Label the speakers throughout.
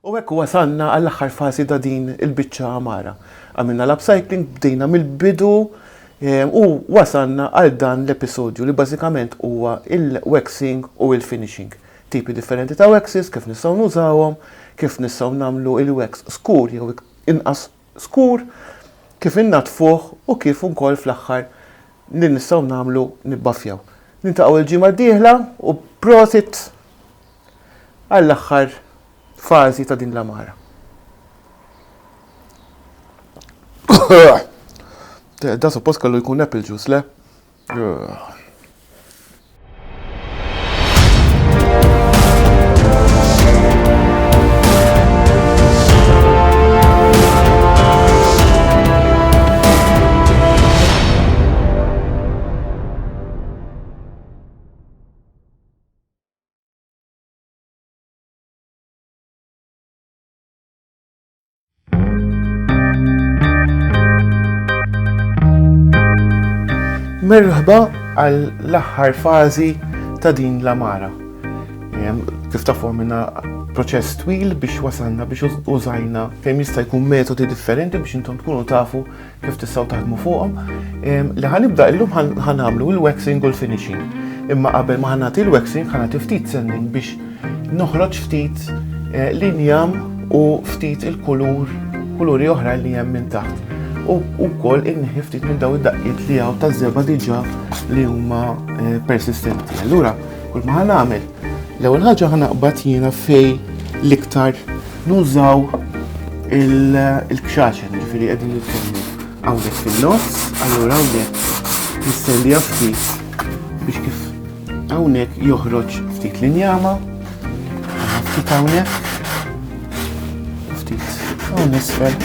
Speaker 1: U hekk wasalna għall-aħħar fażi ta' din il-biċċa għamara. Għamilna l-upcycling, bdejna mill-bidu u wasalna għal dan l-episodju li bażikament huwa il-waxing u il-finishing. Tipi differenti ta' waxes, kif nistgħu nużawhom, kif nistgħu nagħmlu il-wax skur jew inqas skur, kif innaddfuh u kif ukoll fl-aħħar li nistgħu nagħmlu nibbaffjaw. Niltaqgħu l-ġimgħa d-dieħla u prosit! għall-aħħar fażi ta' din l-għamara. Da suppost kellu jkun apple juice, le? Merħba għall-aħħar fażi ta' din l-amara. Kif tafu minna proċess twil biex wasalna biex użajna kemm jista' jkun metodi differenti biex intom tkunu tafu kif tistgħu taħdmu fuqhom. Li ħanibda illum ħanamlu il-waxing u l-finishing. Imma qabel ma ħanati l-waxing ħanati ftit sending biex noħroġ ftit eh, l-injam u ftit il-kulur, kuluri oħra li hemm minn taħt. U wkoll inneħi ftit minn daw id-daqqiet li hawn taż-żeba diġà li huma eh, persistenti. Allura, kull ma ħanamel L-ewwel ħaġa ħa naqbad jiena fej l-iktar nużaw il-kxaxen, ġifieri qegħdin nitkellmu hawnhekk fin-nofs, allura hawnhekk nistennija ftit biex kif hawnhekk joħroġ ftit l-injama, ftit hawnhekk, ftit hawn isfel.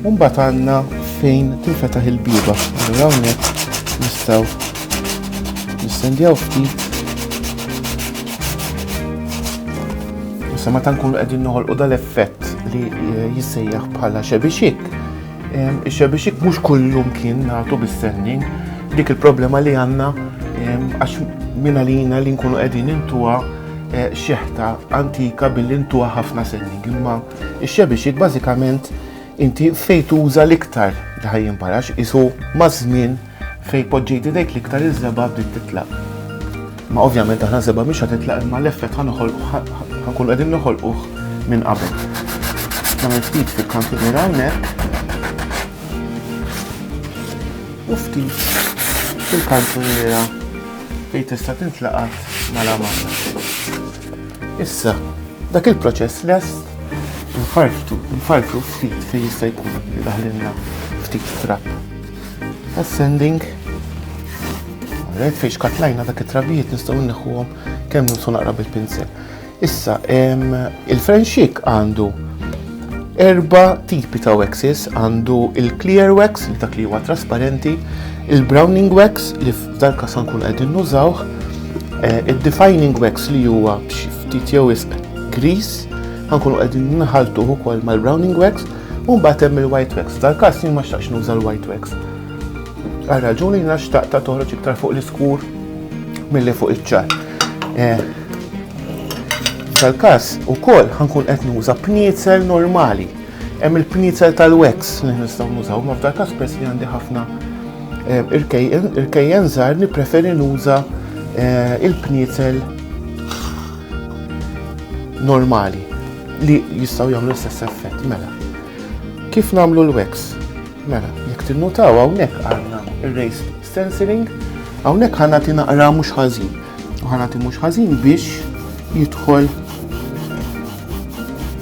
Speaker 1: Mbagħad għandna fejn tinfetaħ il-biba. Allura hawnhekk nistgħu nistendjaw ftit. Issa meta nkunu qegħdin noħolqu dal-effett li eh, jissejjaħ bħala xebixik. Ix-xebixik mhux kullum kien nagħtu bis-sending dik il-problema li għandna għax minn għalina li nkunu qegħdin intuha eh, xeħta antika billi intuha ħafna sending imma Ix-xebixik bażikament inti fejn tuża l-iktar li ħaj jimparax isu maż-żmien fejn poġġejt idejk l-iktar iż-żeba' bdiet titlaq. Ma ovvjament aħna żeba' mhix ħad titlaq imma l-effett ħa ħankun qegħdin noħolquh minn qabel. Nagħmel ftit fil-kantier hawnhekk. U ftit fil-kantuniera fejn tista' tintlaqat mala mala. Issa, dak il-proċess lest nfarftu, nfarfru ftit fejn jista' jkun li daħlinna ftit trab. Ascending. Għalhekk fejn xkatlajna dak it-trabijiet nistgħu nneħħuhom kemm nimsu naqra bil-pinsel. Issa, il-frenxik għandu erba tipi ta' waxes għandu il-clear wax li dak li huwa trasparenti, il-browning wax li F'dan każ se nkunu qegħdin nużawh eh, id-defining wax li huwa b'xi ftit jew isq grease, ħankunu qegħdin nħaltuh ukoll mal-browning wax, u mbagħad hemm il-white wax. F'dan każ jien ma xtaqx nuża l-white wax. Għal raġuni jiena xtaqt ta' toħroġ iktar fuq l-iskur milli fuq iċ-ċar. Eh, tal każ ukoll ħankun qed nuża pniezel normali. Hemm il-pniezel tal-wax li nistgħu nużaw, ma f'dak każ pers li għandi ħafna Il-kejjen żgħar nippreferi nuża il-pnietel normali li jistgħu jagħmlu l-istess effett mela. Kif nagħmlu l-wax? Mela, jekk tinnutaw hawnhekk għandna ir-race stenciling, hawnhekk ħana tinaqra mhux ħażin. U ħana mhux ħażin biex jidħol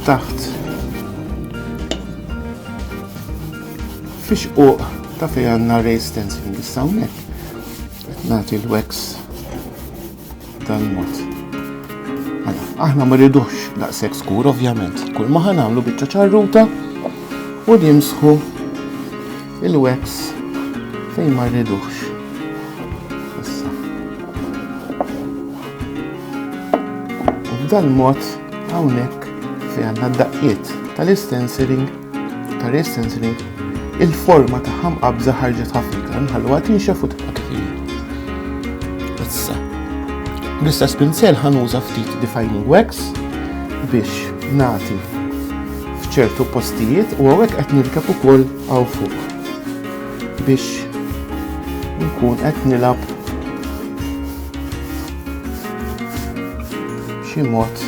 Speaker 1: taħt Fix-xquq ta' fejn għandna ray stencil issa hawnhekk qed nagħti l-wax tal-mod. Mela, aħna ma rridux daqshekk skur ovvjament. Kull ma ħanamlu biċċa ċarruta u nimsħu il-wax fejn ma rridux. B'dan mod hawnhekk fejn għandna d-daqqiet tal-istensiling Karistens li il-forma ta' ħamqabża ħarġet ħafna iktar nħalluha tinxef u tibqa' kif Issa. L-istess pinsel ħanuża ftit defining wax biex nagħti f'ċertu postijiet u għawek qed nirkeb ukoll għaw fuq biex nkun qed nilab xi mod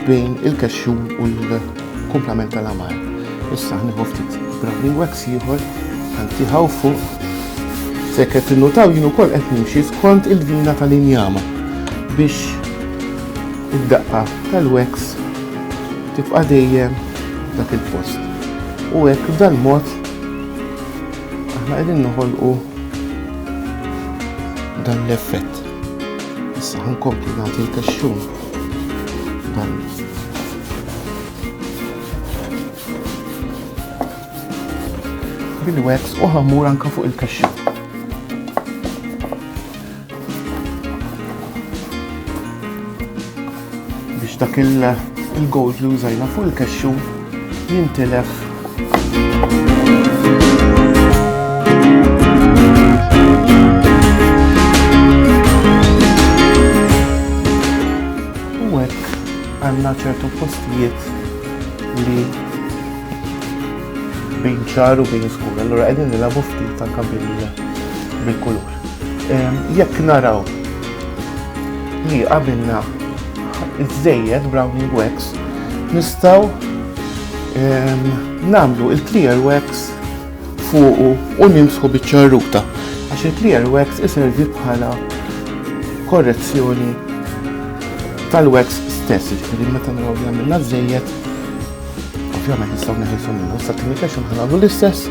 Speaker 1: bejn il-kexxum u l-kumplament tal-għamar. Issa ħniħu ftit browning wax ieħor ħantiħaw fuq sekret tinnutaw jien ukoll qed nimxi skont il-vina tal-injama biex id-daqqa tal-wax tibqa' dejjem dak il-post. U hekk b'dan mod aħna qegħdin noħolqu dan l-effett. Issa ħankompli nagħti l-kaxxun bil-wax u ħamur anka fuq il-kaxxa. Biex dak il-gold li użajna fuq il-kaxxu jintilef. U hekk għandna ċertu postijiet li bin ċar u bin skur. Allura qegħdin nilagħbu ftit anke bil-kulur. Jekk naraw li qabilna iżżejjed browning wax, nistgħu nagħmlu il-clear wax fuqu u nimsħu biċ-ċarruta għax il-clear wax iservi bħala korrezzjoni tal-wax stess, ġifieri meta naraw li għamilna żejjed, ovvjament nistgħu neħilsu minnu, sa tinikex nħanalu l-istess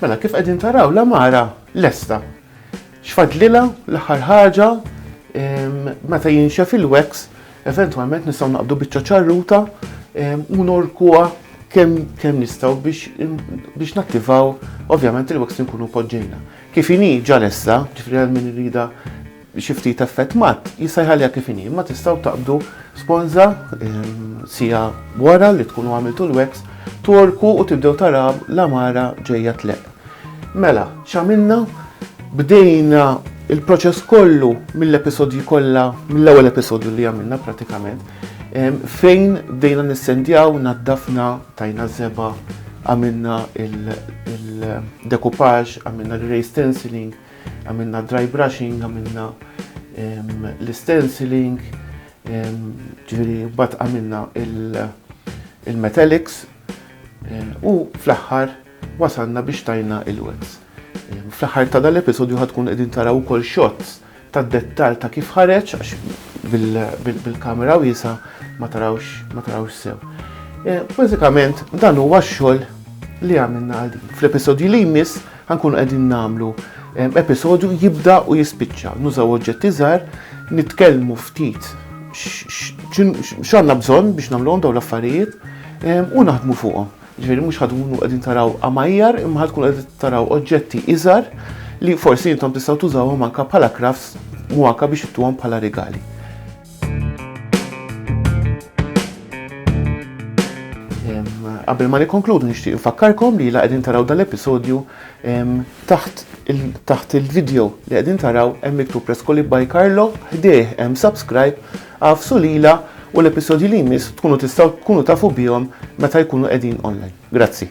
Speaker 1: Mela kif qegħdin taraw l-amara lesta. X'fadlilha l-aħħar ħaġa ehm, meta jinxef il-wax eventwalment nistgħu naqbdu biċċa ċarruta ehm, u norkuha kemm kemm nistgħu biex nattivaw ovvjament il-wax nkunu poġġejna. Kif inhi ġalessa, ġifri għal min irida Xi ftit effett matt jista' jħalliha kif inhi, imma tistgħu taqbdu sponża siegħa wara li tkunu għamiltu l-wax, tworku u tibdew taraw l-għamara ġejja tleqq. Mela, x'għamilna? Bdejna il-proċess kollu mill-episodji kollha, mill-ewwel episodju li għamilna pratikament, fejn bdejna nissendjaw, naddafna, tajna żeba, għamilna il-decoupage, għamilna l-ray stenciling, Għamilna dry brushing, għamilna l-stenciling, ġviri bat għamilna il-metallics u fl-axħar wasalna biex tajna il-wets. Fl-axħar ta' dal-episodju ħatkun edin taraw kol shots ta' dettal ta' kif ħareċ għax bil-kamera wisa ma tarawx sew. E, bazzikament dan huwa x-xogħol li għamilna għal din. Fl-episodju li jmiss Ħa nkunu qegħdin nagħmlu episodju jibda u jispiċċa. Nużaw oġġetti żgħar, nitkellmu ftit x'għandna bżonn biex nagħmluhom dawn l-affarijiet u naħdmu fuqhom. Ġifieri mhux ħadmu qegħdin taraw għamajjar imma ħadkun qegħdin taraw oġġetti iżgħar li forsi intom tistgħu tużawhom anke bħala crafts u anke biex ittuhom bħala rigali. Qabel ma nikkonkludu nixtieq infakkarkom li la qegħdin taraw dal-episodju taħt taħt il-video li qegħdin taraw hemm miktub Rescoli by Carlo ħdejh hemm subscribe għafsu lila u l-episodji li jmiss tkunu tistgħu tkunu tafu bihom meta jkunu qegħdin online. Grazzi.